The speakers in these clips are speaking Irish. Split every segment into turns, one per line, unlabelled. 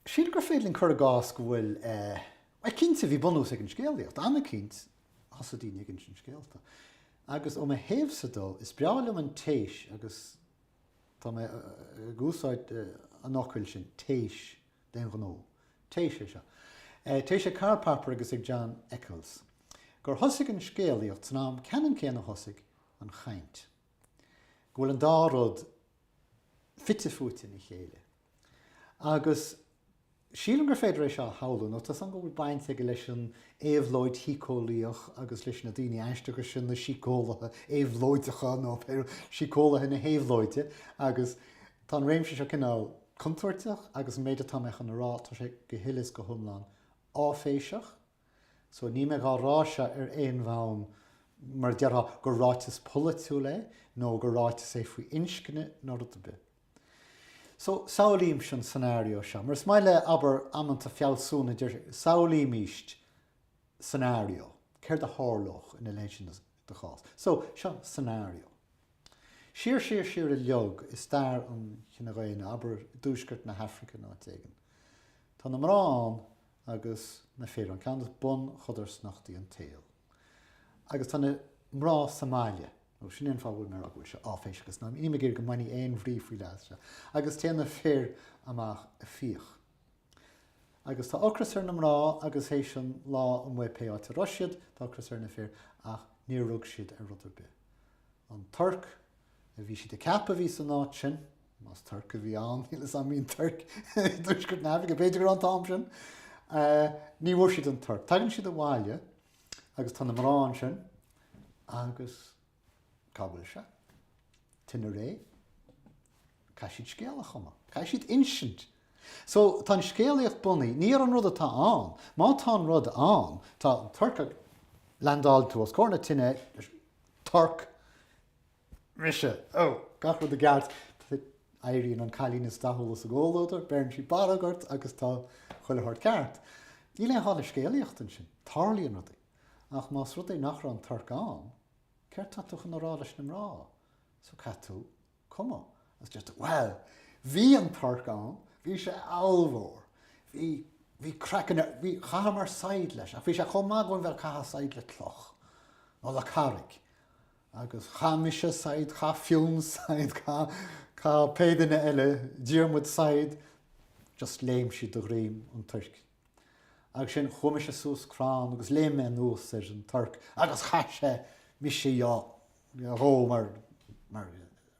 Sílim gur féidir linn cur i gcás go bhfuil, bhuel, cinnte, bhí bunús ag an scéalaíocht, agus cinnte, thosaigh daoine ag insint scéalta. Agus ó mo thaobhsa de, is breá liom an téis agus tá mé ag úsáid an fhocail sin, téis, d'aon ghnó. Téis é seo. Téis ag Karl Popper agus ag John Eccles, gur thosaigh an scéalaíocht san am ceannann céanna a thosaigh an chaint. Go bhfuil an dá rud fite fuaite ina chéile. Agus sílim gur féidir é seo a shamhlú, nó tá seans go bhfuil baint aige leis an éabhlóid shíceolaíoch agus leis na daoine aisteacha sin, na síceolaithe éabhlóideacha, nó síceolaithe na héabhlóide, agus tá an réimse seo cineál contúirteach agus an méid atá mé chun a rá, tá sé go huile is go hiomlán áiféiseach. So níl mé dhá rá seo ar aon bhonn mar a déarfá gur ráiteas polaitiúil é nó gur ráiteas é faoi inscne nó rud ar bith. So, samhlaímís an scenario seo, mar is maith le, abair, amanta, fealsúna, deir siad, samhlaímís scenario, céard a tharlódh ina leithéid sin de chás. So, seo scenario. Siar, siar, siar uilig i stair an chine dhaonna, abair i dtuaisceart na hAfraice nó áit éigin, tá na mná ann agus na fir ann, ceann de bunchodarsnachtaí an tsaoil. Agus tá na mná sa mbaile. Nó sin é an fáth a bhfuil mé ag rá go bhfuil sé áiféiseach, is ná nílim ag iarraidh go mbainfí aon bhrí faoi leath as seo. Agus téann na fir amach ag fiach. Agus tá ocras ar na mná agus théis an lá amuigh pé áit a raibh siad, tá ocras ar na fir ach níor rug siad ar rud ar bith. An torc. a bhí siad ag ceapadh a bhí san áit sin, más torc a bhí ann, níl 'fhios a'm, an mbíonn torc i dtuaisceart na hAifrice, b'fhéidir go raibh an t-am sin, ní bhfuair siad an torc. Tagann siad abhaile agus tá na mná ansin agus cá bhfuil sé? Tine réidh. Caithfidh siad scéal a chumadh, caithfidh siad insint. So, tá an scéalaíocht bunaithe ní ar an rud atá ann, má tá an rud ann, tá an torc ann, leaindeálann tú os comhair na tine, torc, Mise, Ó, gach rud i gceart. Éiríonn an cailín is dathúla sa gcomhluadar, beireann sí barróg ort agus tá chuile shórt ceart. Níl aon chall le scéalaíocht ansin, tarlaíonn rudaí. Ach más rud é nach raibh an torc ann, céard tá tú chun a rá leis na mná? So, caithfidh tú cumadh agus deir tú, Bhuel, bhí an torc ann, bhí sé ollmhór, bhí, bhí craiceann air, bhí, chaitheamar saighead leis ach bhí sé chomh maith go bhfuil, bhuel, caitheamh saighead le cloch nó le carraig. Agus chaith mise said, chaith Fionn said, chaith, chaith pé duine eile, Diarmuid said, just léim siad ar dhroim an toirc. Agus sin, chuaigh mise suas crann agus léim mé anuas ar an torc agus chaith sé mise dhó mar, mar,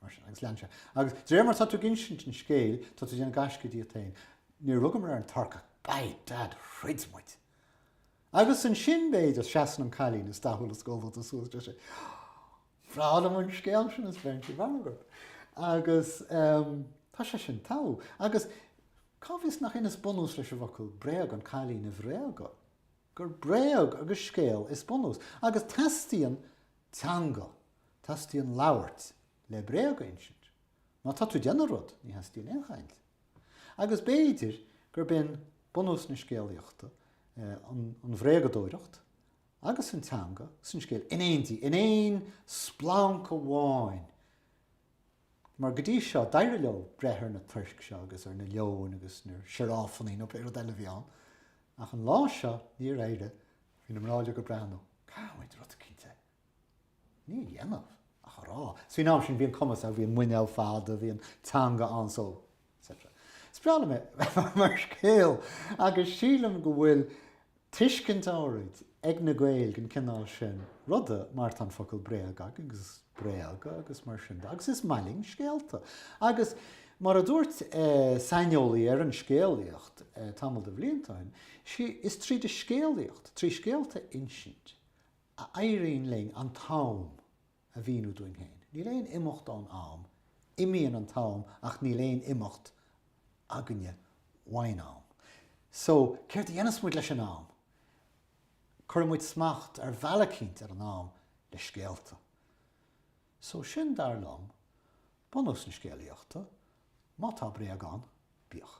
mar sin agus lean sé. Agus de réir mar atá tú ag insint an scéil, tá tú ag déanamh gaisce díot féin. Níor rugamar ar an torc ach, by dad, throid muid! Agus ansin, b'fhéidir, seasann an cailín is dathúla sa gcomhluadar suas, deir sí, Ba bhreá liom an scéal sin a bheith ar insint a'm, a Mhargaret. Agus tá sé sin tógtha. Agus cá bhfios nach in is bunús leis an bhfocal bréag, an cailín a bhréagadh. Gur bréag agus scéal is bunús. Agus teastaíonn teanga, teastaíonn labhairt le bréag a insint. Má tá tú ag déanamh rud, ní theastaíonn aon chaint. Agus b'fhéidir gurb in bunús na scéalaíochta an bhréagadóireacht agus an teanga is an scéal in éindí, in aon splanc amháin! Mar go dtí seo, d'éirigh leo breith ar na toirc seo agus ar na leoin agus na sioráifannaí nó pé rud eile a bhí ann, ach an lá seo, níor éirigh. Bhí na mná uilig ag breathnú. Caithfidh muid rud eicínt a. dhéanamh ach a rá. So faoin am sin, bhí an cumas ann, bhí an muinéal fada, bhí an teanga ann, so. etc. Is breá liom é mar scéal agus sílim go bhfuil tuiscint áirid ag na Gaeil den cineál sin ruda mar tá an focal bréag agus bréagadh agus mar sin de agus is maith linn scéalta agus mar a dúirt saineolaí ar an scéalaíocht tamall de bhlianta ó shin, is tríd an scéalaíocht, trí scéalta a insint, a éiríonn linn an t-am a mhíniú dúinn féin. Níl aon imeacht ón am, imíonn an t-am ach níl aon imeacht againne uaidh'n am. So, céard a dhéanas muid leis an am? Cuireann muid smacht ar bhealach eicínt ar an am le scéalta. So, sin, dar liom, bunús na scéalaíochta. Má tá bréag ann, bíodh.